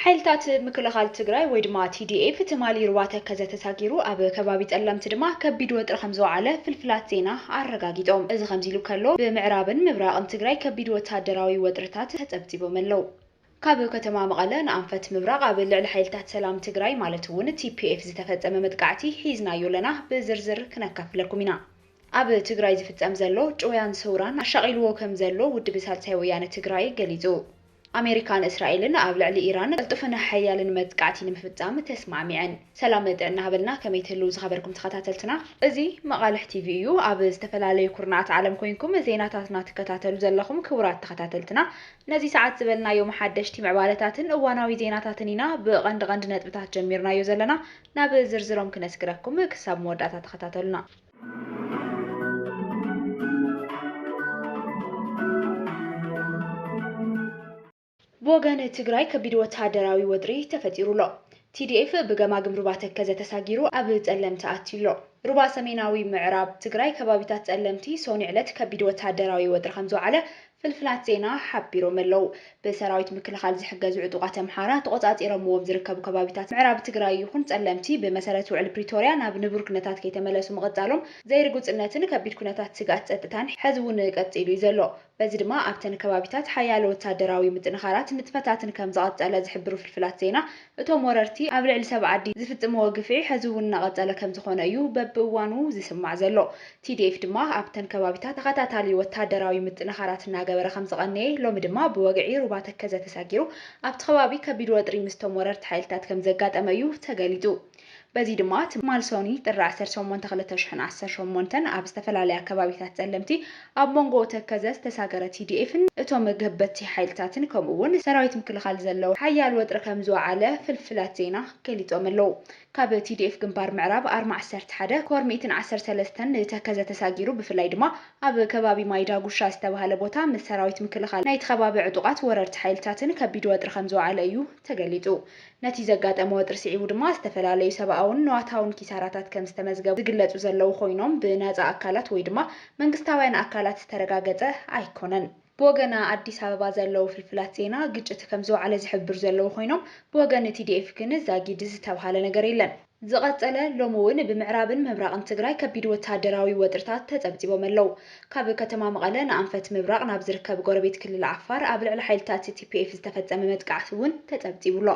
ሓይልታት ምክልኻል ትግራይ ወይ ድማ TDF ትማሊ ሩባ ተከዘ ተሳጊሩ ኣብ ከባቢ ፀለምቲ ድማ ከቢድ ወጥሪ ከምዝወዓለ ፍልፍላት ዜና ኣረጋጊጦም። እዚ ከምዚ ኢሉ ከሎ ብምዕራብን ምብራቕን ትግራይ ከቢድ ወታደራዊ ወጥርታት ተፀብፂቦም ኣለው። ካብ ከተማ መቐለ ንኣንፈት ምብራቕ ኣብ ልዕሊ ሓይልታት ሰላም ትግራይ ማለት እውን TPF ዝተፈፀመ መጥቃዕቲ ሒዝናዮ ኣለና ብዝርዝር ክነካፍለኩም ኢና። ኣብ ትግራይ ዝፍፀም ዘሎ ጭውያን ሰውራን ኣሻቒልዎ ከምዘሎ ውድብ ሳልሳይ ወያነ ትግራይ ገሊፁ። ኣሜሪካን እስራኤልን ኣብ ልዕሊ ኢራን ቅልጡፍን ሓያልን መጥቃዕቲ ንምፍጻም ተስማዕሚዐን። ሰላም ጥዕና ሃበልና ከመይ ትህልው ዝኸበርኩም ተኸታተልትና። እዚ መቓልሕ ቲቪ እዩ። ኣብ ዝተፈላለዩ ኩርናዓት ዓለም ኮይንኩም ዜናታትና ትከታተሉ ዘለኹም ክቡራት ተኸታተልትና ነዚ ሰዓት ዝበልናዮም ሓደሽቲ ምዕባለታትን እዋናዊ ዜናታትን ኢና ብቐንዲ ቐንዲ ነጥብታት ጀሚርናዮ ዘለና ናብ ዝርዝሮም ክነስግረኩም ክሳብ መወዳእታ ተኸታተሉና። ብወገን ትግራይ ከቢድ ወተሃደራዊ ወጥሪ ተፈጢሩ ኣሎ። TDF ብገማግም ሩባ ተከዘ ተሳጊሩ ኣብ ፀለምቲ ኣትዩ ኣሎ። ሩባ ሰሜናዊ ምዕራብ ትግራይ ከባቢታት ፀለምቲ ሰኑይ ዕለት ከቢድ ወተሃደራዊ ወጥሪ ከምዝወዓለ ፍልፍላት ዜና ሓቢሮም'ለው። ብሰራዊት ምክልኻል ዝሕገዙ ዕጡቓት ኣምሓራ ተቖጻጺሮምዎም ዝርከቡ ከባቢታት ምዕራብ ትግራይ ይኹን ጸለምቲ ብመሰረት ውዕሊ ፕሪቶርያ ናብ ንቡር ኩነታት ከይተመለሱ ምቕጻሎም ዘይርጉጽነትን ከቢድ ኩነታት ስግኣት ጸጥታን ሕዚ'ውን ቀጺሉ'ዩ ዘሎ። በዚ ድማ ኣብተን ከባቢታት ሓያሎ ወታደራዊ ምጥንኻራት ንጥፈታትን ከምዝቐጸለ ዝሕብሩ ፍልፍላት ዜና፣ እቶም ወረርቲ ኣብ ልዕሊ ሰብ ዓዲ ዝፍጽምዎ ግፍዒ ሕዚ እውን እናቐጸለ ከምዝኾነ እዩ በብእዋኑ ዝስማዕ ዘሎ። TDF ድማ ኣብተን ከባቢታት ተኸታታሊ ወታደራዊ ምጥንኻራት እናገበረ ከምዝቐነየ፣ ሎሚ ድማ ብወግዒ ሩባ ተከዘ ተሳጊሩ ኣብቲ ከባቢ ከቢድ ወጥሪ ምስቶም ወረርቲ ሓይልታት ከምዘጋጠመ እዩ ተገሊጹ። በዚ ድማ ትማል ሶኑይ ጥሪ ዓሰርተ ሸሞንተ ክልተ ሽሕን ዓሰርተ ሸሞንተን ኣብ ዝተፈላለያ ከባቢታት ፀለምቲ ኣብ ሞንጎ ተከዘ ዝተሳገረ TDF ን እቶም ገበትቲ ሓይልታትን ከምኡ እውን ሰራዊት ምክልኻል ዘለዉ ሓያል ወጥሪ ከምዝወዓለ ፍልፍላት ዜና ገሊፆም ኣለዉ። ካብ TDF ግንባር ምዕራብ ኣርማ ዓሰርተ ሓደ ኮር ሚእትን ዓሰርተ ሰለስተን ንተከዘ ተሳጊሩ ብፍላይ ድማ ኣብ ከባቢ ማይ ዳጉሻ ዝተብሃለ ቦታ ምስ ሰራዊት ምክልኻል ናይቲ ከባቢ ዕጡቓት ወረርቲ ሓይልታትን ከቢድ ወጥሪ ከምዝወዓለ እዩ ተገሊፁ። ነቲ ዘጋጠመ ወጥሪ ስዒቡ ድማ ዝተፈላለዩ ሰብኣውን ንዋታውን ኪሳራታት ከም ዝተመዝገቡ ዝግለጹ ዘለዉ ኮይኖም ብናጻ ኣካላት ወይ ድማ መንግስታውያን ኣካላት ዝተረጋገጸ ኣይኮነን። ብወገና ኣዲስ ኣበባ ዘለዉ ፍልፍላት ዜና ግጭት ከም ዝወዓለ ዝሕብሩ ዘለዉ ኮይኖም ብወገን ቲዲኤፍ ግን ዛጊድ ዝተብሃለ ነገር የለን። ዝቐፀለ ሎሚ እውን ብምዕራብን ምብራቕን ትግራይ ከቢድ ወታደራዊ ወጥሪታት ተፀብፂቦም ኣለው። ካብ ከተማ መቐለ ንኣንፈት ምብራቕ ናብ ዝርከብ ጎረቤት ክልል ዓፋር ኣብ ልዕሊ ሓይልታት tpf ዝተፈፀመ መጥቃዕቲ እውን ተፀብፂቡ ኣሎ።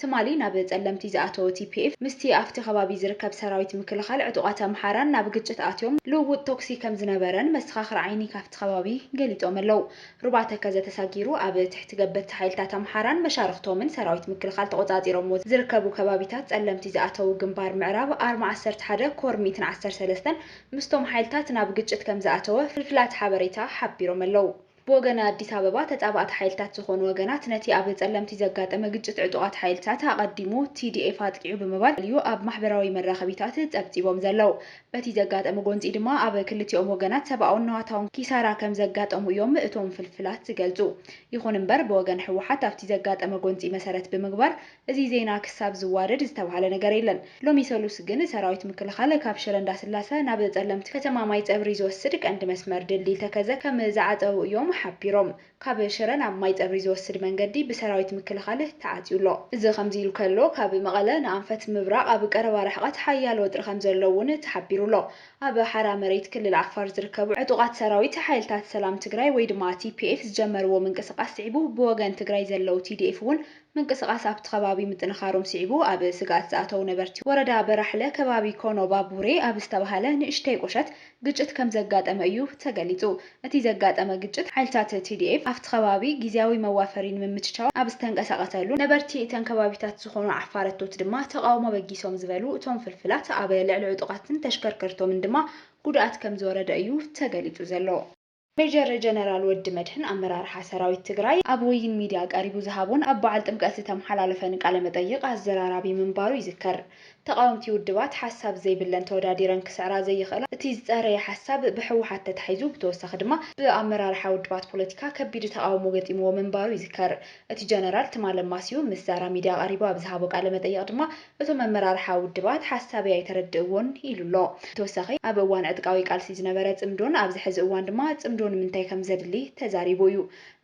ትማሊ ናብ ፀለምቲ ዝኣተወ tpf ምስቲ ኣፍቲ ከባቢ ዝርከብ ሰራዊት ምክልኻል ዕጡቓት ኣምሓራን ናብ ግጭት ኣትዮም ልውውጥ ተኩሲ ከምዝነበረን መሰኻኽር ዓይኒ ካፍቲ ከባቢ ገሊፆም ኣለው። ሩባ ተከዘ ተሳጊሩ ኣብ ትሕቲ ገበቲ ሓይልታት ኣምሓራን መሻርኽቶምን ሰራዊት ምክልኻል ተቖጻጺሮምዎ ዝርከቡ ከባቢታት ጸለምቲ ዝኣተዉ ግንባር ምዕራብ ኣርማ ዓሰርተ ሓደ ኮር ሚእትን ዓሰርተ ሰለስተን ምስቶም ሓይልታት ናብ ግጭት ከምዝኣተወ ፍልፍላት ሓበሬታ ሓቢሮም ኣለዉ። ብወገን ኣዲስ ኣበባ ተጻባእቲ ሓይልታት ዝኾኑ ወገናት ነቲ ኣብ ጸለምቲ ዘጋጠመ ግጭት ዕጡቓት ሓይልታት ኣቐዲሙ TDF ኣጥቂዑ ብምባል እዩ ኣብ ማሕበራዊ መራኸቢታት ጸብጺቦም ዘለዉ። በቲ ዘጋጠመ ጎንፂ ድማ ኣብ ክልቲኦም ወገናት ሰብኣውን ንዋታውን ኪሳራ ከምዘጋጠሙ እዮም እቶም ፍልፍላት ዝገልፁ። ይኹን እምበር ብወገን ህወሓት ኣብቲ ዘጋጠመ ጎንፂ መሰረት ብምግባር እዚ ዜና ክሳብ ዝዋደድ ዝተብሃለ ነገር የለን። ሎሚ ሰሉስ ግን ሰራዊት ምክልኻል ካብ ሽረ እንዳስላሰ ናብ ፀለምቲ ከተማ ማይፀብሪ ዝወስድ ቀንዲ መስመር ድልድል ተከዘ ከም ዝዓፀዉ እዮም ሓቢሮም። ካብ ሽረ ናብ ማይጸብሪ ዝወስድ መንገዲ ብሰራዊት ምክልኻል ተዓጽዩ ኣሎ። እዚ ከምዚ ኢሉ ከሎ፣ ካብ መቐለ ንኣንፈት ምብራቕ ኣብ ቀረባ ርሕቐት ሓያል ወጥሪ ከምዘሎ እውን ተሓቢሩ ኣሎ። ኣብ ሓራ መሬት ክልል ዓፋር ዝርከቡ ዕጡቓት ሰራዊት፣ ሓይልታት ሰላም ትግራይ ወይ ድማ TPF ዝጀመርዎ ምንቅስቓስ ስዒቡ ብወገን ትግራይ ዘለው TDF እውን ምንቅስቓስ ኣብቲ ከባቢ ምጥንኻሮም ስዒቡ ኣብ ስግኣት ዝኣተው ነበርቲ ወረዳ በራሕለ ከባቢ ኮኖ ባቡሬ ኣብ ዝተብሃለ ንእሽተይ ቁሸት ግጭት ከምዘጋጠመ እዩ ተገሊፁ። እቲ ዘጋጠመ ግጭት ሓይልታት tdf ኣብቲ ከባቢ ጊዚያዊ መዋፈሪ ንምምችቻው ኣብ ዝተንቀሳቐሰሉን ነበርቲ እተን ከባቢታት ዝኾኑ ዓፋረቶት ድማ ተቓውሞ በጊሶም ዝበሉ እቶም ፍልፍላት ኣብ ልዕሊ ዕጡቓትን ተሽከርከርቶምን ድማ ጉድኣት ከምዝወረደ እዩ ተገሊፁ ዘሎ። ሜጀር ጀነራል ወዲ መድህን ኣመራርሓ ሰራዊት ትግራይ ኣብ ወይን ሚድያ ቀሪቡ ዝሃቦን ኣብ በዓል ጥምቀት ዝተመሓላለፈን ቃለ መጠይቕ ኣዘራራቢ ምንባሩ ይዝከር። ተቓወምቲ ውድባት ሓሳብ ዘይብለን ተወዳዲረን ክስዕራ ዘይኽእላ እቲ ዝፀረየ ሓሳብ ብህወሓት ተታሒዙ ብተወሳኺ ድማ ብኣመራርሓ ውድባት ፖለቲካ ከቢድ ተቓውሞ ገጢምዎ ምንባሩ ይዝከር። እቲ ጀነራል ትማሊ ኣማስዩ ምስ ዛራ ሚድያ ቀሪቡ ኣብ ዝሃቦ ቃለ መጠይቕ ድማ እቶም ኣመራርሓ ውድባት ሓሳበይ ኣይተረድእዎን ኢሉ ኣሎ። ብተወሳኺ ኣብ እዋን ዕጥቃዊ ቃልሲ ዝነበረ ፅምዶን ኣብዚ ሕዚ እዋን ድማ ፅምዶ ንምንታይ ከምዘድሊ ተዛሪቡ እዩ።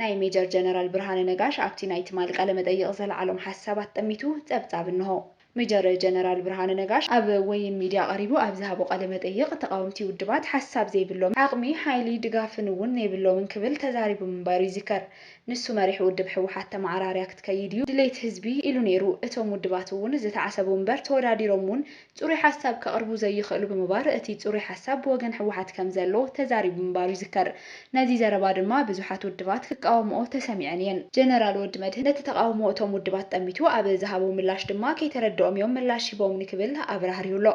ናይ ሜጀር ጀነራል ብርሃነ ነጋሽ ኣብቲ ናይ ትማል ቃለ-መጠይቕ ዘልዓሎም ሓሳባት ጠሚቱ ፀብፃብ እነሆ። ሜጀር ጀነራል ብርሃነ ነጋሽ ኣብ ወይን ሚድያ ቀሪቡ ኣብ ዝሃቦ ቃለ-መጠይቕ ተቓወምቲ ውድባት ሓሳብ ዘይብሎምን ዓቕሚ፣ ሓይሊ፣ ድጋፍን እውን ነይብሎምን ክብል ተዛሪቡ ምንባሩ ይዝከር። ንሱ መሪሕ ውድብ ህወሓት ተመዓራርያ ክትከይድ እዩ ድሌት ህዝቢ ኢሉ ነይሩ። እቶም ውድባት እውን ዝተዓሰቡ እምበር ተወዳዲሮም እውን ፅሩይ ሓሳብ ከቕርቡ ዘይኽእሉ ብምባር እቲ ፅሩይ ሓሳብ ብወገን ህወሓት ከምዘሎ ተዛሪቡ ምንባሩ ይዝከር። ነዚ ዘረባ ድማ ብዙሓት ውድባት ክቃወምኦ ተሰሚዐን እየን። ጀነራል ወዲመድህን ነቲ ተቓውሞ እቶም ውድባት ጠሚቱ ኣብ ዝሃቦ ምላሽ ድማ ከይተረደኦም እዮም ምላሽ ሂቦምኒ ክብል ኣብራህሪሁ ኣሎ።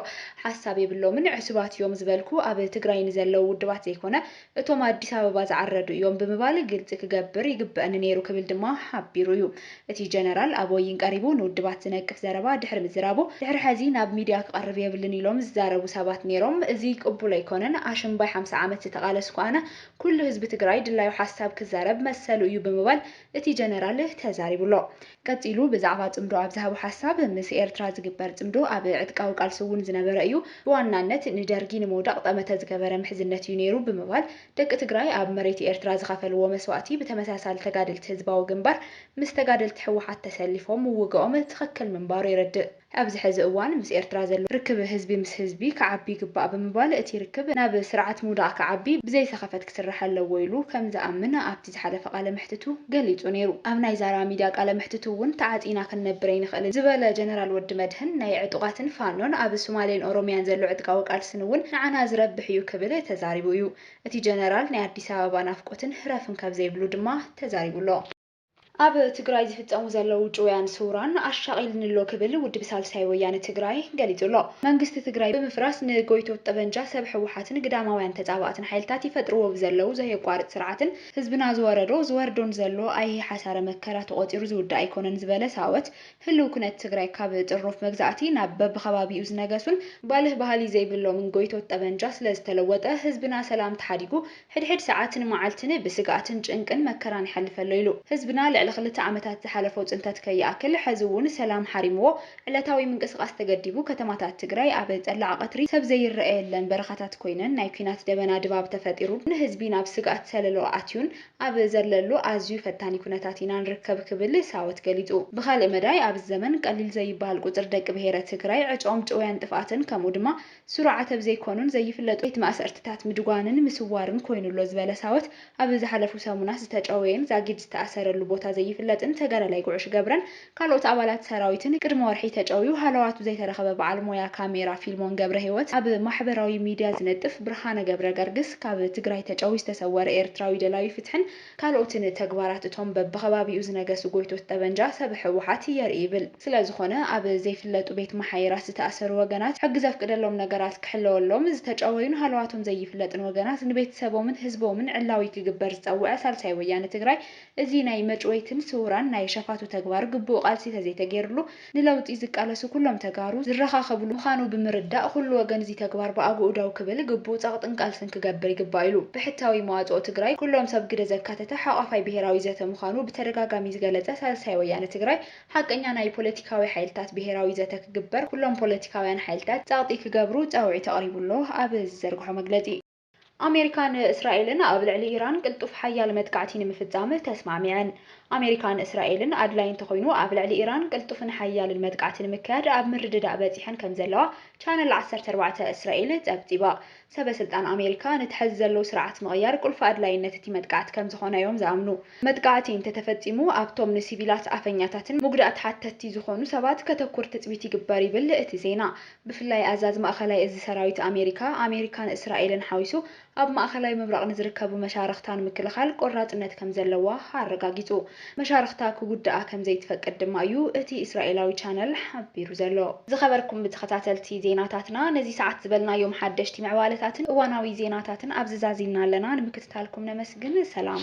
ሓሳብ የብሎምን ዕሱባት እዮም ዝበልኩ ኣብ ትግራይ ንዘለው ውድባት ዘይኮነ እቶም ኣዲስ ኣበባ ዝዓረዱ እዮም ብምባል ግልፂ ክገብር ይግበእኒ ነይሩ ክብል ድማ ሓቢሩ እዩ። እቲ ጀነራል ኣብ ወይን ቀሪቡ ንውድባት ዝነቅፍ ዘረባ ድሕሪ ምዝራቡ ድሕሪ ሐዚ ናብ ሚድያ ክቐርብ የብሉን ኢሎም ዝዛረቡ ሰባት ነይሮም። እዙይ ቅቡል ኣይኮነን፣ ኣሽምባይ ሓምሳ ዓመት ዝተቓለስኩ ኣነ፣ ኩሉ ህዝቢ ትግራይ ድላዩ ሓሳብ ክዛረብ መሰሉ እዩ ብምባል እቲ ጀነራል ተዛሪቡ ኣሎ። ቀጺሉ ብዛዕባ ጽምዶ ኣብ ዝሃቦ ሓሳብ፣ ምስ ኤርትራ ዝግበር ጽምዶ ኣብ ዕጥቃዊ ቃልሲ እውን ዝነበረ እዩ፣ ብዋናነት ንደርጊ ንምውዳቕ ጠመተ ዝገበረ ምሕዝነት እዩ ነይሩ ብምባል፣ ደቂ ትግራይ ኣብ መሬት ኤርትራ ዝኸፈልዎ መስዋእቲ ብተመሳሳሊ ተጋደልቲ ህዝባዊ ግንባር ምስ ተጋደልቲ ህወሓት ተሰሊፎም ምውግኦም ትኽክል ምንባሩ የረድእ። ኣብዚ ሕዚ እዋን ምስ ኤርትራ ዘሎ ርክብ ህዝቢ ምስ ህዝቢ ክዓቢ ይግባእ ብምባል እቲ ርክብ ናብ ስርዓት ምውዳቕ ክዓቢ ብዘይሰኸፈት ክስራሕ ኣለዎ ኢሉ ከምዝኣምን ኣብቲ ዝሓለፈ ቃለመሕትቱ ገሊጹ ነይሩ። ኣብ ናይ ዛራ ሚድያ ቃለመሕትቱ እውን ተዓጺና ክንነብር ኣይንኽእልን ዝበለ ጀነራል ወዲመድህን ናይ ዕጡቓትን ፋኖን ኣብ ሱማሌን ኦሮሚያን ዘሎ ዕጥቃዊ ቃልስን እውን ንዓና ዝረብሕ እዩ ክብል ተዛሪቡ እዩ። እቲ ጀነራል ናይ ኣዲስ ኣበባ ናፍቆትን ህረፍን ካብዘይብሉ ድማ ተዛሪቡ ኣሎ። ኣብ ትግራይ ዝፍፀሙ ዘለዉ ጭውያን ስውራን ኣሻቒልኒ'ሎ ክብል ውድብ ሳልሳይ ወያነ ትግራይ ገሊፁ'ሎ። መንግስቲ ትግራይ ብምፍራስ ንጎይቶት ጠበንጃ ሰብ ህወሓትን ግዳማውያን ተፃባእትን ሓይልታት ይፈጥርዎ ብዘለዉ ዘየቋርፅ ስርዓትን ህዝብና ዝወረዶ ዝወርዶን ዘሎ ኣይሂ ሓሳረ መከራ ተቖፂሩ ዝውዳእ ኣይኮነን ዝበለ ሳወት ህልው ኩነት ትግራይ ካብ ጥርኑፍ መግዛእቲ ናብ በቢከባቢኡ ዝነገሱን ባልህ ባህሊ ዘይብሎምን ጎይቶት ጠበንጃ ስለዝተለወጠ ህዝብና ሰላም ተሓዲጉ ሕድሕድ ሰዓትን መዓልትን ብስግኣትን ጭንቅን መከራን ይሓልፈሎ ኢሉ። ህዝብና ልዕሊ ክልተ ዓመታት ዝሓለፎ ፅንተት ከይኣክል ሐዚ እውን ሰላም ሓሪምዎ ዕለታዊ ምንቅስቓስ ተገዲቡ ከተማታት ትግራይ ኣብ ፀላዕ ቐትሪ ሰብ ዘይረኣየለን በረኻታት ኮይነን ናይ ኲናት ደበና ድባብ ተፈጢሩን ንህዝቢ ናብ ስግኣት ሰለሎ ኣእትዩን ኣብ ዘለሉ ኣዝዩ ፈታኒ ኩነታት ኢና ንርከብ ክብል ሳወት ገሊፁ። ብኻሊእ መዳይ ኣብዚ ዘመን ቀሊል ዘይበሃል ቁፅሪ ደቂ ብሄረ ትግራይ ዕጭኦም ጭውያን ጥፍኣትን ከምኡ ድማ ስሩዓት ኣብ ዘይኮኑን ዘይፍለጡ ቤት ማእሰርትታት ምድጓንን ምስዋርን ኮይኑ ኣሎ ዝበለ ሳወት፣ ኣብ ዝሓለፉ ሰሙናት ዝተጨወየን ዛጊድ ዝተኣሰረሉ ቦታ ዘይፍለጥን ተጋዳላይ ጉዕሽ ገብረን ካልኦት ኣባላት ሰራዊትን ቅድሚ ወርሒ ተጨውዩ ሃለዋቱ ዘይተረኸበ በዓል ሞያ ካሜራ ፊልሞን ገብረሂወት ኣብ ማሕበራዊ ሚድያ ዝነጥፍ ብርሃነ ገብረገርግስ ካብ ትግራይ ተጨውዩ ዝተሰወረ ኤርትራዊ ደላዩ ፍትሕን ካልኦትን ተግባራት እቶም በብኸባቢኡ ዝነገሱ ጎይቶት ጠበንጃ ሰብ ህወሓት የርኢ ይብል። ስለዝኾነ ኣብ ዘይፍለጡ ቤት መሓይራት ዝተኣሰሩ ወገናት ሕጊ ዘፍቅደሎም ነገራት ክሕለወሎም፣ ዝተጨወዩን ሃለዋቶም ዘይፍለጥን ወገናት ንቤተሰቦምን ህዝቦምን ዕላዊ ክግበር ዝፀወዐ ሳልሳይ ወያነ ትግራይ እዚ ናይ መጭወይትን ስውራን ናይ ሸፋቱ ተግባር ግቡእ ቃልሲ ተዘይተገይርሉ ንለውጢ ዝቃለሱ ኩሎም ተጋሩ ዝረኻኸብሉ ምኻኑ ብምርዳእ ኩሉ ወገን እዚ ተግባር ብኣግኡ ደው ክብል ግቡእ ጸቕጥን ቃልስን ክገብር ይግባእ ኢሉ። ብሕታዊ መዋጽኦ ትግራይ ኩሎም ሰብ ግደ ዘካተተ ሓቋፋይ ብሄራዊ ዘተ ምኻኑ ብተደጋጋሚ ዝገለጸ ሳልሳይ ወያነ ትግራይ ሓቀኛ ናይ ፖለቲካዊ ሓይልታት ብሄራዊ ዘተ ክግበር ኩሎም ፖለቲካውያን ሓይልታት ጸቕጢ ክገብሩ ጻውዒት ኣቕሪቡ ኣሎ ኣብ ዝዘርግሖ መግለጺ። ኣሜሪካን እስራኤልን ኣብ ልዕሊ ኢራን ቅልጡፍ ሓያል መጥቃዕቲ ንምፍጻም ተስማዕሚዐን። ኣሜሪካን እስራኤልን ኣድላዪ እንተኾይኑ ኣብ ልዕሊ ኢራን ቅልጡፍን ሓያልን መጥቃዕቲ ንምክያድ ኣብ ምርድዳእ በጺሐን ከምዘለዋ ቻነል ዓሰርተ ኣርባዕተ እስራኤል ጸብጺባ። ሰበስልጣን ኣሜሪካ ነቲ ሐዚ ዘሎ ስርዓት ምቕያር ቁልፊ ኣድላይነት እቲ መጥቃዕቲ ከምዝኾነ'ዮም ዝኣምኑ። መጥቃዕቲ እንተተፈጺሙ ኣብቶም ንሲቪላት ኣፈኛታትን ሙጉዳእቲ ሓተትቲ ዝኾኑ ሰባት ከተኩር ትጽቢት ይግበር ይብል እቲ ዜና። ብፍላይ ኣዛዚ ማእኸላይ እዚ ሰራዊት ኣሜሪካ፣ ኣሜሪካን እስራኤልን ሓዊሱ ኣብ ማእኸላይ ምብራቕ ንዝርከቡ መሻርኽታ ንምክልኻል ቆራፅነት ከምዘለዋ ኣረጋጊፁ። መሻርኽታ ክጉድኣ ከምዘይትፈቅድ ድማ እዩ እቲ እስራኤላዊ ቻነል ሓቢሩ ዘሎ። ዝኸበርኩም ተኸታተልቲ ዜናታትና ነዚ ሰዓት ዝበልናዮም ሓደሽቲ ምዕባለታትን እዋናዊ ዜናታትን ኣብዚ ዛዚምና ኣለና። ንምክትታልኩም ነመስግን። ሰላም።